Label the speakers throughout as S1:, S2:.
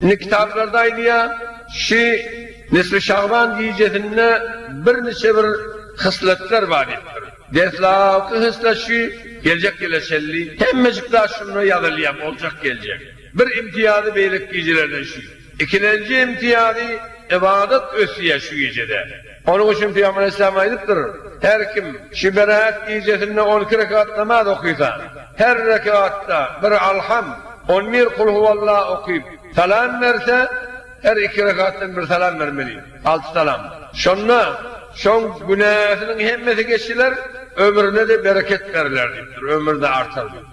S1: Indi kitaplarda aýdýar, şu Nisfi Şaban gijesinde birniçe bir hysletler bar diýipdir. Deslapky hyslet şu, geljek ýyla çenli hemmejik zat şunda ýazylýar, boljak geljek. Bir imtiýazy beýleki gijelerden şu. Ikilenji imtiýazy, ybadat ösýär şu gijede. Onuň üçin Pygamber aleýhissalam aýdypdyr, Her kim şu berat gijesinde on iki rekat namaz okysa, her rekatda bir Alham, on bir Kul huwalla okyp, salam berse, her iki rekatdan bir salam bermeli, alty salam. Şonda şoň günäsiniň hemmesi geçiler, ömrüne-de bereket beriler diýipdir, ömri-de artar diýip.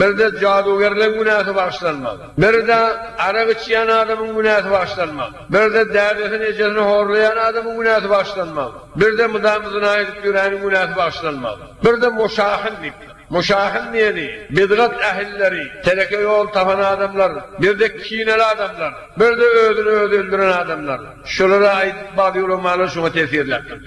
S1: Birde jadugerleň günäsi bagyşlanmak, birde arak içýän adamyň günäsi bagyşlanmak, birde dädesini, ejesini horlaýan adamyň günäsi bagyşlanmak, birde mydama zyna edip ýöräniň günäsi bagyşlanmak, birde moşahyn diýipdir. Moşahyn diýeni, bidgat ähilleri, teleke ýol tapan adamlar, birde kineli adamlar, birde özüni özi öldüren adamlar. Şulara aýdyp bag ýuramalar şoňa tesirläpdir.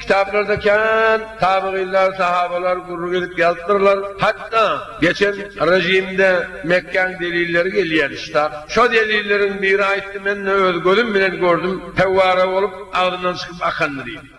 S1: Kitaplarda kän tabyginler, sahabalar gürrüň edip ýazypdyrlar. Hatda geçen rejimde Mekgäň delilleri gelýärdi şta. Şo delilleriň biri aýtdy, men-de öz gözüm bilen gördüm, fewwara bolup agzyndan çykyp akandy diýip.